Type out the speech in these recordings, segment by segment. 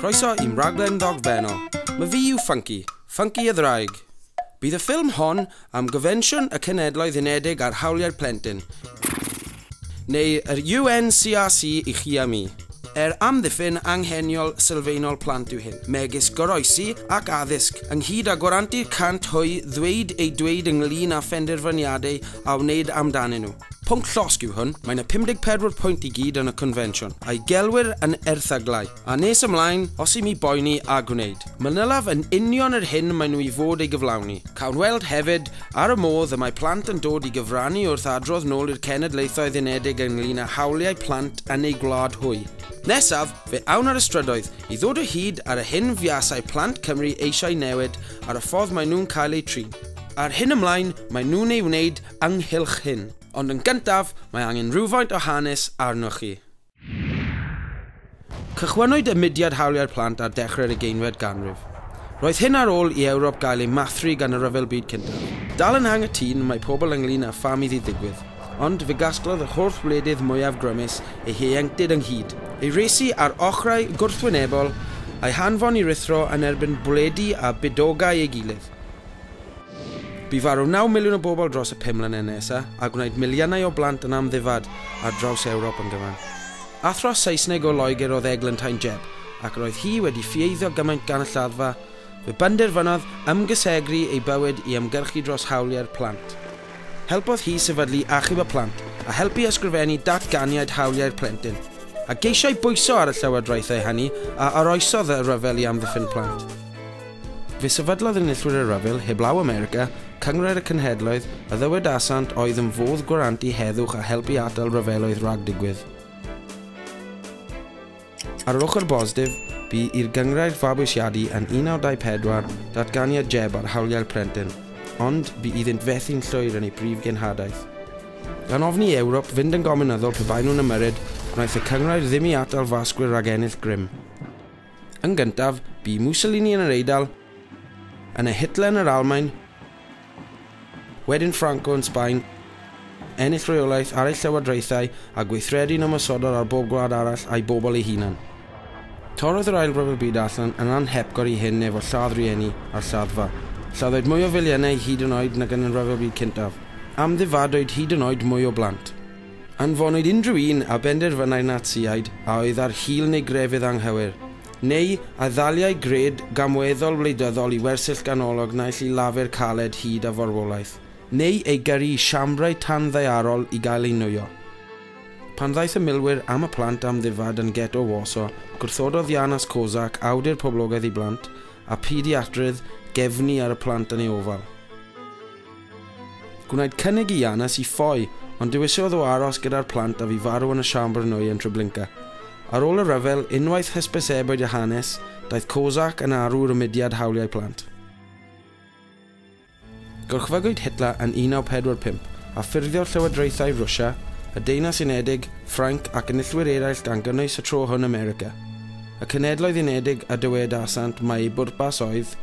Croeso i'm raglen ddogfennol. Mae fi yw Funky, Funky a Ddraig. Bydd y ffilm hon am Gonfensiwn y Cenedloedd Unedig ar Hawliau'r Plentyn, neu yr UNCRC i chi a mi. Er amddiffyn angheniol sylfaenol plant yw hyn, megis goroesi ac addysg, ynghyd â gwarantu 100 hwy ddweud eu dweud ynglŷn â phenderfyniadau a wneud amdanyn nhw. Pwnc llosg yw hwn, mae 'na 54 pwynt i gyd yn y Confensiwn, a'i gelwir yn erthyglau. A nes ymlaen, os i mi boeni a gwneud. Manylaf yn union yr hyn maen nhw i fod ei gyflawni. Cawn weld, hefyd, ar y modd y mae plant yn dod i gyfrannu wrth adrodd nôl i'r Cenedlaethoedd Unedig ynglŷn â hawliau plant yn eu gwlad hwy. Nesaf, fe awn ar y strydoedd, i ddod o hyd ar y hyn fuasai plant Cymru eisiau newid ar y ffordd maen nhw'n cael eu trin, a'r hyn ymlaen maen nhw'n ei wneud ynghylch hyn. Ond yn gyntaf, mae angen rhywfaint o hanes arnoch chi. Cychwynnwyd y mudiad hawliau'r plant ar dechrau'r ugeinfed ganrif. Roedd hyn ar ôl i Ewrop gael ei mathru gan y Rhyfel Byd Cyntaf. Dal yn anghytûn mae pobl ynglŷn â pham iddi ddigwydd, ond fe gasglodd yr holl wledydd mwyaf grymus eu hieuenctid ynghyd, eu rhesi ar ochrau gwrthwynebol, a'u hanfon i ruthro yn erbyn bwledi a bydogau ei gilydd. Bu farw 9 miliwn o bobl dros y pum mlynedd nesa, a gwnaed miliynau o blant yn amddifad ar draws Ewrop yn gyfan. Athro Saesneg o Loegr oedd eglantain Jeb, ac yr oedd hi wedi ffieiddio gymaint gan y lladdfa, fe benderfynodd ymgysegru ei bywyd i ymgyrchu dros hawliau'r plant. Helpodd hi sefydlu Achub y Plant, a helpu ysgrifennu Datganiad Hawliau'r Plentyn, a geisiai bwyso ar y llywodraethau hynny a oroesodd y rhyfel i amddiffyn plant. Fe sefydlodd enillwyr y rhyfel heblaw America, Cynghrair y Cenhedloedd, a ddywedasant oedd yn fodd gwarantu heddwch a help i atal rhyfeloedd rhag digwydd. Ar yr ochr bositif, bu i'r Gynghrair fabwysiadu yn 1924 datganiad Jebb ar hawliau'r plentyn, ond bu iddynt fethu'n llwyr yn ei brif genhadaeth. Gan ofni i Ewrop fynd yn gomiwnyddol pe baen nhw'n ymyrryd, wnaeth y Cynghrair ddim i atal fasgwyr rhag ennill grym. Yn gyntaf, bu Mussolini yn yr Eidal, yna Hitler yn yr Almaen, wedyn Franco yn Sbaen, ennill reolaeth ar ei llywodraethau a gweithredu'n ymosodol ar bob gwlad arall a'i bobl ei hunan. Torrodd yr Ail Ryfel Byd allan yn anhepgor i hyn efo lladd rhieni a'r lladdfa. Lladdwyd mwy o filiynau hyd yn oed nag yn y Rhyfel Byd Cyntaf. Amddifadwyd hyd yn oed mwy o blant. Anfonwyd unrhyw un a benderfynai'r Natsïaid a oedd ar hil neu grefydd anghywir, neu a ddaliai gred gamweddol wleidyddol i wersyll ganolog naill i lafur caled hyd a forwolaeth, neu ei gyrru i siambrau tanddaearol i gael ei nwyo. Pan ddaeth y milwyr am y plant amddifad yn get o Warsaw, gwrthododd Janusz Kozak, awdur poblogaidd i blant, a pediatrydd, gefnu ar y plant yn ei ofal. Gwnaed cynnig i Janes i ffoi, ond dewisiodd o aros gyda'r plant a fu farw yn y siambr nwy yn Treblinka. Ar ôl y rhyfel, unwaith hysbysebwyd â hanes, daeth Korczak yn arwr y mudiad hawliau plant. Gorchfygwyd Hitler yn 1945, a ffurfiodd llywodraethau Rwsia, y Deyrnas Unedig, Ffrainc ac enillwyr eraill gan gynnwys y tro hwn America. Y Cenhedloedd Unedig a dywedasant mai eu bwrpas oedd,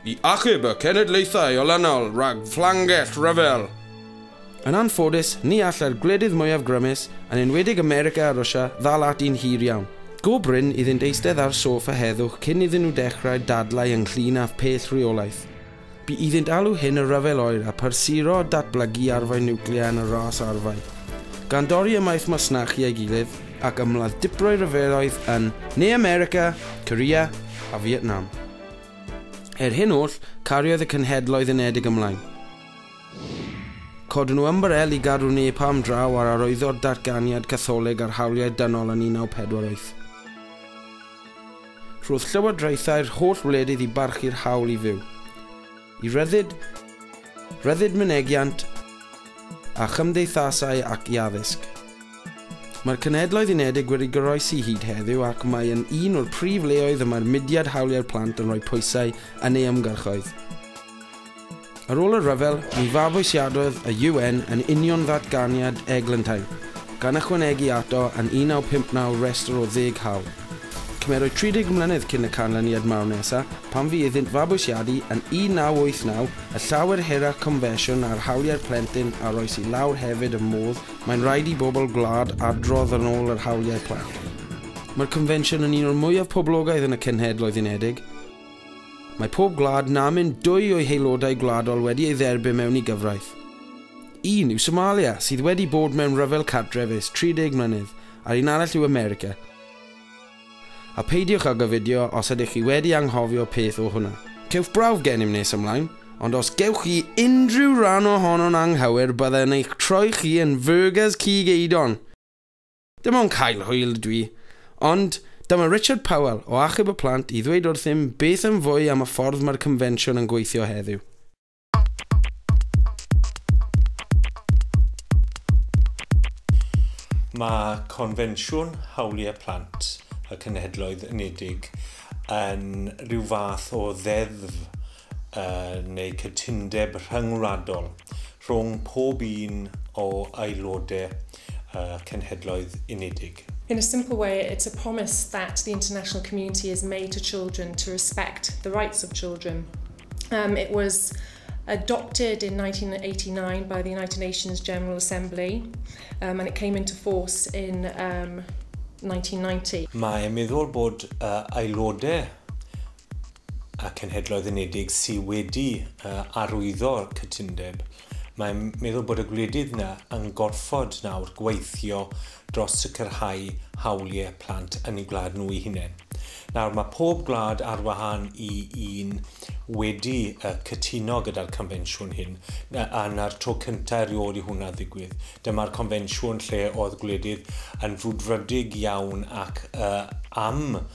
i achub y cenedlaethau olynol rhag fflangell rhyfel. Yn anffodus, ni all yr gwledydd mwyaf grymus, yn enwedig America a Rwsia, ddal ati'n hir iawn. Go brin iddynt eistedd ar soffa heddwch cyn iddyn nhw dechrau dadlau ynglŷn â'th pell rheolaeth. Bu iddynt alw hyn y Rhyfel Oer a phrysuro datblygu arfau niwclear yn y ras arfau. Gan dorri ymaith masnachu ei gilydd, ac ymladd diprwy ryfeloedd yn Ne America, Korea a Fietnam. Er hyn oll, cariodd y Cenhedloedd Unedig ymlaen. Codwn nhw ymbarel i gadw napalm draw ar arwyddo'r Datganiad Catholig ar Hawliau Dynol yn 1948. Rhodd llywodraethau'r holl wledydd i barchu'r hawl i fyw. Y Rhyddid, Rhyddid Mynegiant a Chymdeithasau ac i Addysg. Mae'r Cenhedloedd Unedig wedi goroesi hyd heddiw ac mae yn un o'r prif leoedd y mae'r mudiad hawliau'r plant yn rhoi pwysau yn ei ymgyrchoedd. Ar ôl y rhyfel, mi fabwysiadodd y UN yn union ddatganiad Eglantine, gan ychwanegu ato yn 1959 restr o ddeg hawl. Cymerwyd 30 mlynedd cyn y canlyniad mawr nesaf, pan fu iddynt fabwysiadu yn 1989, y llawer hirach confensiwn ar hawliau'r plentyn a rois i lawr hefyd y modd mae'n rhaid i bobl gwlad adrodd yn ôl yr hawliau plant. Mae'r confensiwn yn un o'r mwyaf poblogaidd yn y Cenhedloedd Unedig. Mae pob gwlad na mynd dwy o'i haelodau gwladol wedi ei dderbyn mewn i gyfraith. Un yw Somalia, sydd wedi bod mewn rhyfel cartref ers 30 mlynedd, a'r un arall yw America. A peidiwch ag ofiddio os ydych chi wedi anghofio peth o hwnna. Cewch brawf gennym nes ymlaen, ond os gewch chi unrhyw ran ohono'n anghywir bydde yn eich troi chi yn fyrgers cig eidon! Dim ond cael hwyl ydw i. Ond, dyma Richard Powell o Achub y Plant i ddweud wrthym beth yn fwy am y ffordd mae'r Confensiwn yn gweithio heddiw. Mae Confensiwn Hawliau Plant y Cenhedloedd Unedig yn rhyw fath o ddeddf uh, neu cytundeb rhyngwladol rhwng pob un o aelodau uh, Cenhedloedd Unedig. In a simple way, it's a promise that the international community has made to children to respect the rights of children. Um, it was adopted in 1989 by the United Nations General Assembly um, and it came into force in um, 1990. Mae meddwl bod uh, aelodau a Cenhedloedd Unedig sydd wedi uh, arwyddo'r cytundeb Mae'n meddwl bod y gwledydd yna yn gorfod nawr gweithio dros sicrhau hawliau plant yn eu gwlad nhw eu hunain. Nawr, mae pob gwlad ar wahân i un wedi cytuno gyda'r confensiwn hyn, a 'na'r tro cyntaf erioed i hwnna ddigwydd. Dyma'r confensiwn lle oedd gwledydd yn frwdfrydig iawn ac am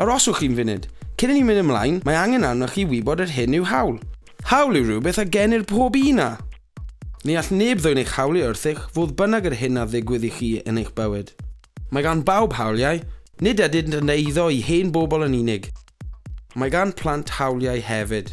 Aroswch un funud. Cyn i ni mynd ymlaen, mae angen arnoch chi wybod yr hyn yw hawl. Hawl yw rhywbeth a genir pob un a. Ni all neb ddwyn eich hawl i wrthych, fodd bynnag yr hyn a ddigwydd i chi yn eich bywyd. Mae gan bawb hawliau. Nid ydynt yn eiddo i hen bobl yn unig. Mae gan plant hawliau hefyd.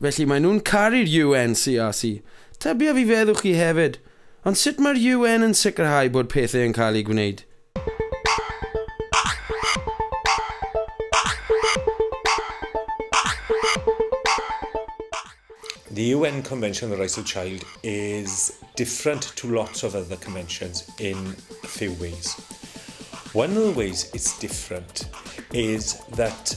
Felly maen nhw'n caru'r UN, CRC. Tybia fi feddwch chi hefyd. Ond sut mae'r UN yn sicrhau bod pethau yn cael eu gwneud? The UN Convention on the Rights of the Child is different to lots of other conventions in a few ways. One of the ways it's different is that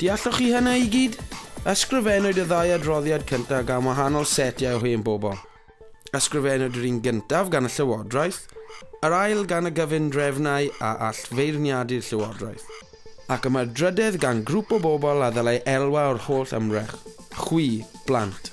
Dealloch chi hynna i gyd? Ysgrifennwyd y ddau adroddiad cyntaf gan wahanol setiau o hen bobl. Ysgrifennwyd yr un gyntaf gan y Llywodraeth, yr ail gan y gyfundrefnau a all feirniadu'r Llywodraeth, ac y mae'r drydedd gan grŵp o bobl a ddylai elwa o'r holl ymdrech, chwi, blant.